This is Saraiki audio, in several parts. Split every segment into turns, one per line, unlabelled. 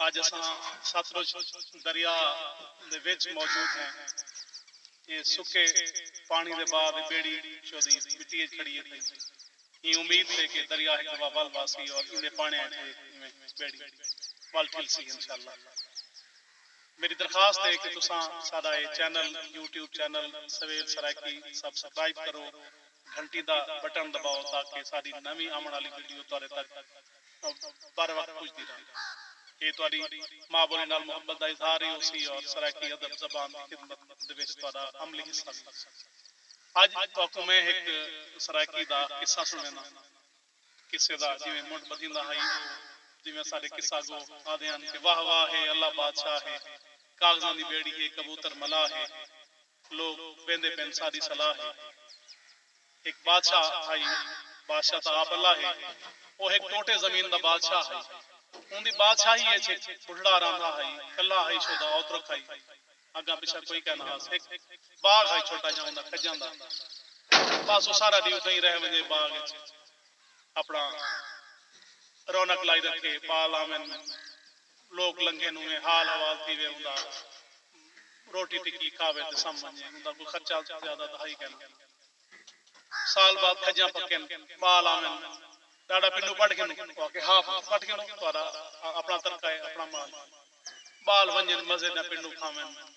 اج اساں ستلج دریا دے وچ موجود ہیں۔ اے سکے پانڑی دے بعد اے بیڑی چودی مٹی اچ کھڑی اے تئیں ایں امید تے کہ دریا ہک دفعہ ول واسی اور ایندے پانڑیاں اچ اے ایویں بیڑی ول ٹھلسی انشاءاللہ۔ میڈی درخواست اے کہ تساں ساڈا اے چینل یوٹیوب چینل سویل سرائیکی سبسکرائب کرو گھنٹی دا بٹن دباؤ تاکہ ساڈی نویں آونڑ آلی ویڈیو تہاڈے تک بروقت پجدی رہندی ہے۔ ایہ تہاڈی ماء بولی نال محبت دا اظہار ہی ہوسی اور سرائیکی ادب زبان دی خدمت دے وچ تہاڈا عملی حصہ وی ہوسی۔ اج تہاکوں میں ہک سرائیکی دا قصہ سنڑینداں۔ قصے دا جیویں منڈھ بدھیندا ہئی او جیویں اساڈے قصہ گو آدھے ہن کہ واہ واہ ہے اللہ بادشاہ ہے کاغذاں دی بیڑی ہے کبوتر ملاح ہے لوک ویندے پن ساڈی صلاح ہے۔ ہک بادشاہ ہئی بادشاہ تاں آپ اللہ ہے۔ او ہک ٹوٹے زمین دا بادشاہ ہئی۔ اوندی بادشاہی اچ ہک بڈھڑا راندھا ہئی۔ کلھا ہئی شودا اوترک ہئی۔ اگاں پچھاں کوئی کائے نہ ہاس۔ ہک باغ ہئی چھوٹا جاں اوندا کھجاں دا۔ بس او سارا ڈی اتھاں ای رہ ونجے باغ اچ اپنا رونق لائی رکھے پال آون۔ لوک لنگھے نوں وے حال حوال تھی وے ہوندا روٹی ٹکی کھاوے تے سم ونجے ہوندا کوئی خرچہ زیادہ تاں ہئی کینا سال بعد کھجاں پکن مال آون ڈاڈا پنو پٹ گھنو او آکھے ہا پٹ پٹ گھنو تہاڈا اپنا ترکہ ہے اپنا مال ہے بال ونجن مزے نال پنو کھاون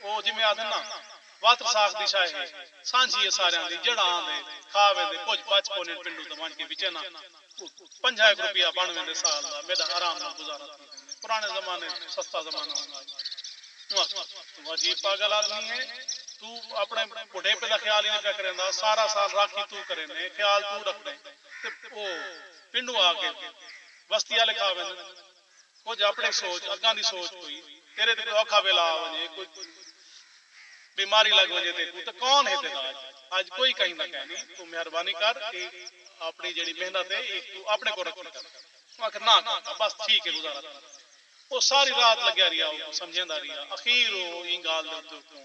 او جیویں آدھن نا واتر ساخ دی شاہ ہے سانجھی ہے ساریاں دی جیڑھا آندے کھا ویندے کجھ بچ کونین پنڈو تے ونج کے وچے نا پنجھا ہک روپیہ بن ویندے سال دا میڈا آرام نال گزارا تھی ویندے پرانے زمانے اچ سستا زمانہ ہوندا ہئی اوں آکھیا توں عجیب پاگل آدمی ہے توں اپنے بڈھیپے دا خیال ہی نئیں پیا کریندا سارا سال راکھی توں کریندیں خیال توں رکھدیں تے او پنڈوں آ کے وستی آلے کھا ویندن۔ کجھ اپݨی سوچ اڳاں دی سوچ کوئی تیݙے تے کوئی اوکھا ویلا آ ونڄے کوئی بیماری لڳ ونڄے تیکوں تاں کون ہے تیݙا اڄ اڄ کوئی کہیندا کائنی توں مہربانی کر اے اپݨی جیڑھی محنت ہے اے توں اپݨے کول رکھی کر اوں آکھیا نہ کاکا بس ٹھیک ہے گزارا تھیندا او ساری رات لڳیا رہیا اوکوں سمجھیندا رہیا اخیر او ایں ڳالھ دے اتے اوکوں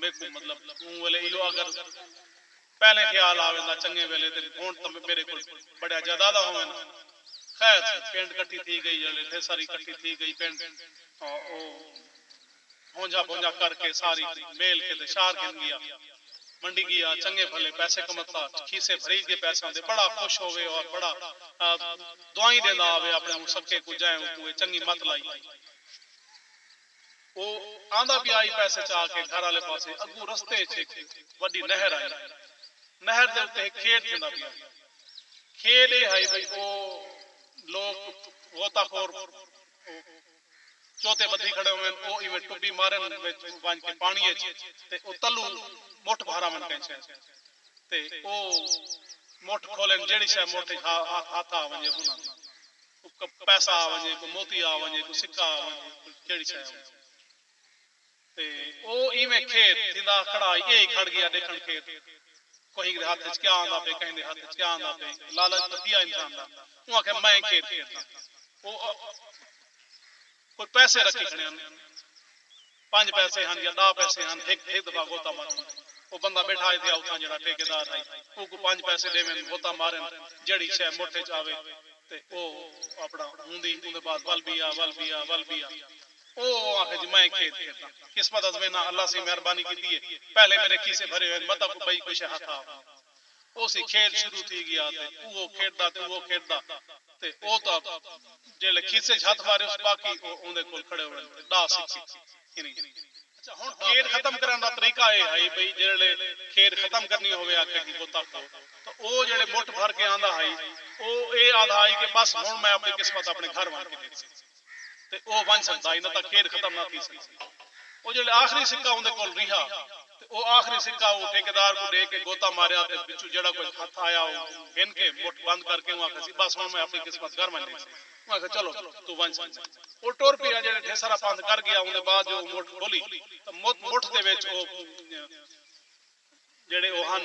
میکوں مطلب اوں ویلے ایہو اگر پہلے خیال آ ویندا چنگے ویلے تے ہنڑ تاں میڈے کول بڑیاں جائیداداں ہوون ہن۔ خیر سی پنڈ کٹھی تھی گئی جلے پھر ساری کٹھی تھی گئی پنڈ او ہونجھا بھونجھا کر کے ساری میل کے تے شہر گھن گیا۔ منڈی گیا چنگے بھلے پیسے کمتا کھیسے بھری گئے پیساں دے بڑا خوش ہووے اور بڑا دعائیں ڈیندا آوے اپنے اوں سکے کوں جئیں اوں کوں اے چنگی مت لائی ہئی۔ او آندا پیا ای پیسے چا کے گھر آلے پاسے اگوں رستے اچ ہک وڈی نہر آئی۔ نہر دے اتے ہک کھیڈ تھیندا پیا ہئی۔ کھیڈ اے ہئی بھئی او لوک غوطہ خور او چوتے بدھی کھڑے ہوون او ایویں ٹبی مارن وچ ونج کے پانڑی اچ تے او تلو مٹھ بھاراون کہیں شے تے او مٹھ کھولن جیڑھی شے مٹھ اچ ہتھ آ ونجے ہوناں دی کوئی پیسہ آ ونجے، کوئی موتی آ ونجے، کوئی سکہ آ ونجے، کوئی جیڑھی شے آ ونجے۔ تے او ایویں کھیت تھیندا ہا کھڑا ہئی، ایہی کھڑ گیا ڈیکھن کھیت کوہیں دے ہتھ اچ کیا آندا پئے، کہیں دے ہتھ اچ کیا آندا پئے۔ لالچ تاں تھیا انسان دا۔ اوں آکھیا میں کھیت کھیڈداں۔ او کوئی پیسے رکھی کھڑے ہن۔ پنج پیسے ہن یا ڈاہ پیسے ہن ہک ہک دفعہ غوطہ مارن او بندہ بیٹھا ہے تھیا اتھاں جیڑھا ٹھیکیدار ہئی اوکوں پنج پیسے ڈیون غوطہ مارن جیڑھی شے مٹھ اچ آوے تے او اپنا ہوندی اوندے بعد ول بیا ول بیا ول بیا او او آکھے جی میں کھید کھیداں قسمت ازمیناں اللہ سئیں مہربانی کیتی ہے پہلے میرے کھیسے بھرے ہوئن متاں کو بئی کوئی شے ہتھ آ اوسی کھیڈ شروع تھی گیا تے اوہو کھیڈدا تے اوہو کھیڈدا تے او تاں جیہڑے کھیسے اچ ہتھ مارے اس باقی او اوندے کول کھڑے ہوون تے ڈاہ سکھے ہنی۔ اچھا ہن کھیڈ ختم کرنڑ دا طریقہ اے ہئی بھئی جیہڑے کھیڈ ختم کرنی ہووے ہا کہیں بتاں کوں تاں او جیہڑے مٹھ بھر کے آندا ہئی او اے آدھا ہئی کہ بس ہن میں اپنڑی قسمت اپنڑے گھر ونج کے ڈیکھساں۔ تے او ونج سکدا ہئی نہ تاں کھیڈ ختم نہ تھی سکدی۔ او جیلھے آخری سکہ اوندے کول ریہا تے او آخری سکہ او ٹھیکیدار کوں ڈے کے گوتا ماریا تے وچوں جیہڑا کجھ ہتھ آیا او گھن کے مٹھ بند کر کے اوں آکھیا سی بس ہن میں اپنی قسمت گھر ونج ڈیسی۔ اوں آکھیا چلو بھئی توں ونج سکدیں۔ او ٹر پیا جیلھے ڈھیسارا پندھ کر گیا اوندے بعد جو او مٹھ کھولی تاں مٹھ دے وچ او جیڑھے او ہن۔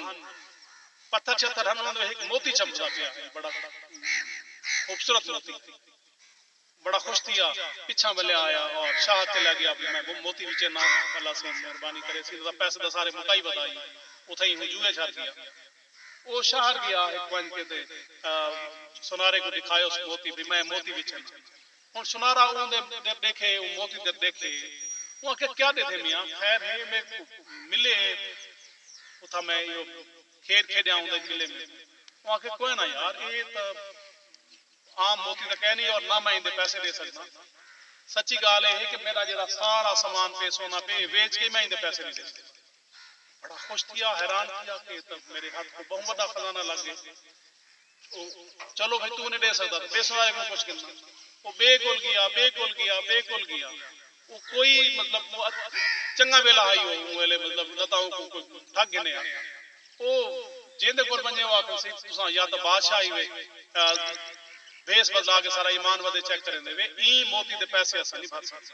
پتھر شتھر ہن انہاں دے وچ ہک موتی چمکدا پیا ہئی بڑا خوبصورت موتی۔ بڑا خوش تھیا پچھاں ولیا آیا اور شاہد تے لے گیا بھئی میں گم موتی وچے ناں بھلا سیں مہربانی کرے سیں تساں پیسے تاں سارے مکائی ودا ہی اتھائیں ہوں جوئے شر گیا۔ او شہر گیا ہک ونج کے تے سونارے کوں ڈکھایوس موتی بھئی میں موتی وچے ناں۔ ہݨ سنارا اوں دے در ݙیکھے اوں موتی در ݙیکھے۔ اوں آکھیا کیا ݙیکھیں میاں خیر ہے میک کوں ملے ہے اتھاں میں ایہو کھیݙ کھیݙیاں اوں دے ملے میک اوں آکھیا کوئے نہ یار ایہ تاں عام موتی تاں کائے نی اور نہ میں ایندے پیسے ݙے سڳداں سچی ڳالھ ایہ ہے کہ میݙا جیڑھا سارا سامان پئے سونا پئے ایہ ویچ کے میں ایندے پیسے نی ݙے سڳداں۔ بڑا خوش تھیا حیران تھیا کہ ایہ تاں میݙے ہتھ کوں ٻہوں وݙا خزانہ لڳ ڳئے۔ او چلو بھئی توں نی ڈے سگدا تاں بیسن والے کوں پچھ گھننا۔ او بے کول گیا، بے کول گیا، بے کول گیا۔ او کوئی مطلب چنگا ویلا ہئی او اوں ویلے مطلب نہ تاں اوکوں کوئی ٹھگ گھنے ہا۔ او جیندے کول ونجے او آکھن سی تساں یا تاں بادشاہ ہی وے بھیس بدلا کے سارا ایمان ودے چیک کریندے وے ایں موتی دے پیسے اساں نی بھر سگدے۔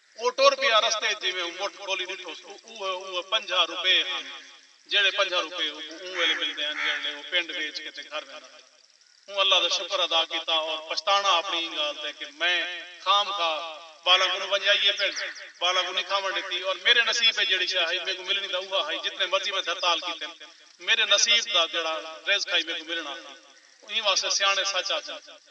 او ٹر پیا رستے اچ جیویں اوں مٹھ کھولی ڈٹھوس او اوہے اوہے پنجاہ روپے ہن جیہڑے پنجاہ روپے اوکوں اوں ویلے ملدے ہن جیہڑلے او پنڈ ویچ کے تے گھر ویندا ہے اوں اللہ دا شکر ادا کیتا اور پچھتانا اپنی ایں گالھ تے کہ میں خام خواہ بالاں کنوں ونجائیے پنڈ بالاں کوں نی کھاون ڈتی اور میرے نصیب اچ جیہڑی شے ہئی میکوں ملنی تاں اوہا ہئی جتنے مرضی میں دھرتال کیتن میرے نصیب دا جیہڑا رزق ہئی میکوں ملنڑاں ہئی ایں واسطے سیاںڑے سچ آکھدن